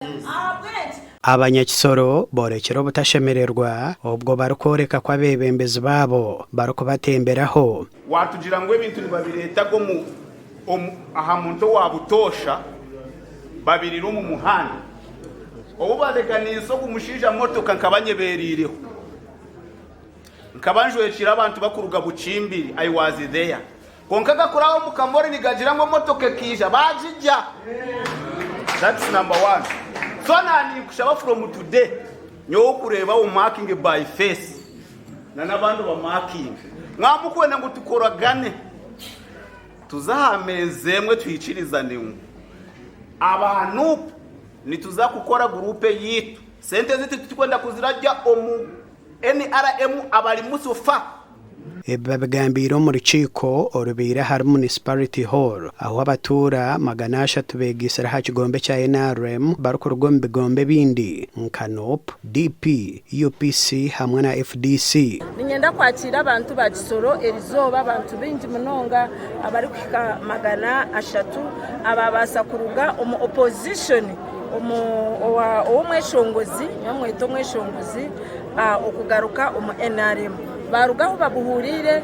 Ahabw'enki? Abanyakisoro boorekire obutashemererwa obwo barikworeka ku abeebembezi baabo barikubatemberaho. Waatugira ngu ebintu nibabireetaga aha muntu owa butoosha babiriire omu muhanda. Obu bareganiise ogu mushaija motoka nkaba nyebeereireho. Nkaba njwekiire abantu bakuruga Bukimbiri, I was there. Kwonka gakuraaho omu kamori nigagira ngu emotoka ekaija baagigya. That's number one. So na ninkushaba from today nyowe okureeba u marking by face na n'abandi obamarkinge. Mwaba mukwenda ngu tukoragane tuze aha meeza emwe tuhikirizane ngu aba Nup nituza kukora group eyaitu. Sente zaitu titurikwenda kuziragya omu nrm abarimu so far. Ebi babigambiire omu rukiiko orubaire ahari Municipality Hall ahu abatuura magana ashatu beegaitsire aha kigombe kya nrm barikuruga omu bigombe ebindi nka nup, DP, UPC hamwe na fdc. Niinyenda kwakiira abantu ba Kisoro erizooba, abantu baingi munonga abarikuhika magana ashatu abaabaasa kuruga omu opposition, ow'omweshongozi, nimumweta omweshongozi, okugaruka omu nrm baaruga ahu babuhuuriire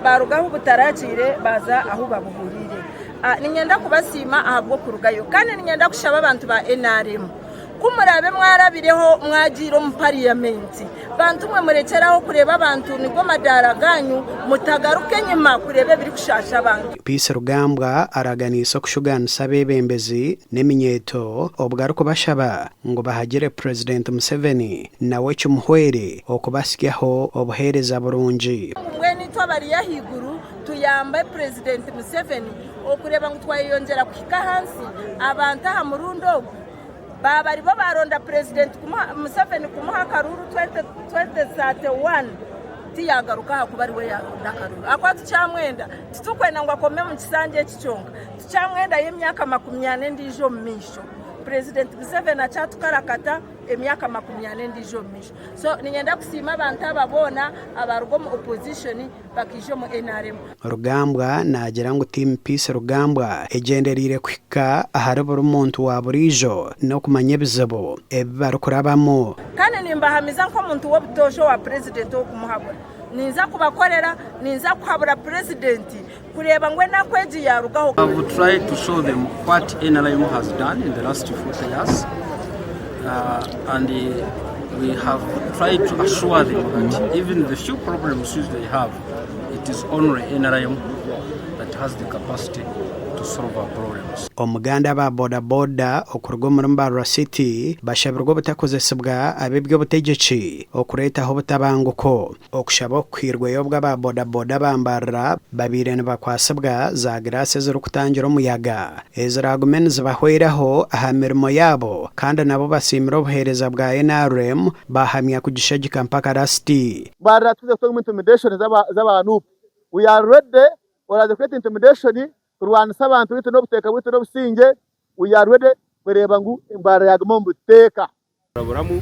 baaruga ahu butaragiire baaza ahu babuhuuriire niinyenda kubasiima ahabw'okurugayo kandi niinyenda kushaba abantu ba nrm ku muraabe mwarabireho mwagiire omu pariyamenti bantu mwe murekyeraho kureeba abantu nigo madaara gaanyu mutagaruka enyima kureeba ebirikushaasha abantu Peace Rugambwa araganiise okushugaanisa abeebembezi n'eminyeeto obu arikubashaba ngu bahagire Purezidenti Museveni. nawe kimuhwere okubatsyaho obuheereza burungi. Mbwenu itwe abari ahaiguru tuyambe Purezidenti Museveni okureeba ngu twayeyongyera kuhika ahansi abantu aha murundi ogu baaba ari bo baaronda Purezidenti Museveni kumuha akaruuru 2031 tiyaagaruka ahakuba ari we yaaronda akaruuru ahakuba tukyamwenda. Titurikwenda ngu akome omu kisanja eki kyonka, tukyamwendayo emyaka makumi ana endiijo omu maisho. Purezidenti Museveni akyatukarakata. emyaka makumi ana endiijo omu maisho so ninyenda kusiima abantu aba boona abaaruga omu opposition bakaija omu nrm. Rugambwa naagira ngu Team Peace Rugambwa egyendereire kuhika ahari buri muntu wa buriijo n'okumanya ebizibu ebi barikurabamu. Kandi nimbahamiza nk'omuntu w'obutoosha owa Purezidenti ow'okumuhabura. Ninza kubakorera, ninza kuhabura Purezidenti. kureeba ngu enaku egi yaarugaho. Omuganda aba boda boda okuruga omuri Mbarara City bashabirwe obutakozesibwa ab'eby'obutegyeki okureetaho obutabanguko. Okushaba oku kwirweyo obwo aba boda boda ba Mbarara babaire nibakwasibwa za giraasi ezirikutangira omuyaga eziraagume nizibahweraho aha mirimo yaabo kandi nabo basiimire obuheereza bwa nrm baahamya kugishagika mpaka rasiti. Mbarara tuze kutunga intimidation zaba Nup we are ready oraze kweta intimidation kurwanisa abantu baitu nobuteeka bwaitu nobusingye we are ready kureba ngu Mbarara yaguma omu buteeka. Kuraburamu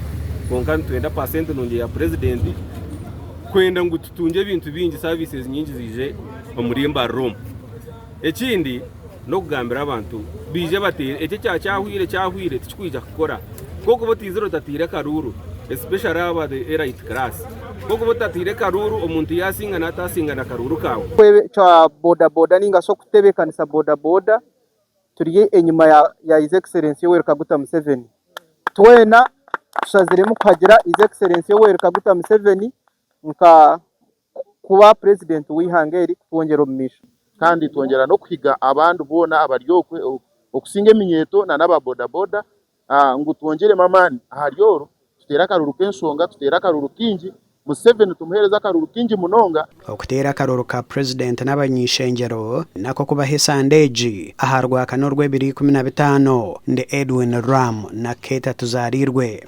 kwonka nitwenda paasenti nungi eya Purezidenti kwenda ngu tutungye ebintu bingi saviises nyingi ziije omuri embarira omu. Ekindi n'okugambira abantu baije bateere ekyo ekya kyahwire kyahwire tikikwija kukora ku orikuba otaizire otataire karuuru especially abo aba erayiti kiraasi ku orikuba otataire karuuru omuntu yaasinga naatasinga na karuuru kaawe. Okutebeka boda boda ninga shi okutebekanisa boda boda turi enyima ya His Excellency Yoweri Kaguta Museveni. Twena tushaziremu kuhagira His Excellency Yoweri Kaguta Museveni nka kuba President w'eihanga eri kutwongyera omu maisho. Kandi twongyera n'okuhiga abandi boona abari okwe okusinga eminyeeto nana aba bodaboda ngu twongyeremu amaani ahari oru, tuteere akaruru k'enshonga, tuteere akaruru kaingi, Museveni tumuheereze akaruru kaingi munonga. Okuteera akaruru ka Purezidenti n'abany'eishengyero nako kubaho esande egi aha Rwakana orw'ebiro ikumi na bitaano. Ndi Edwin Ram na Kate Tuzariirwe.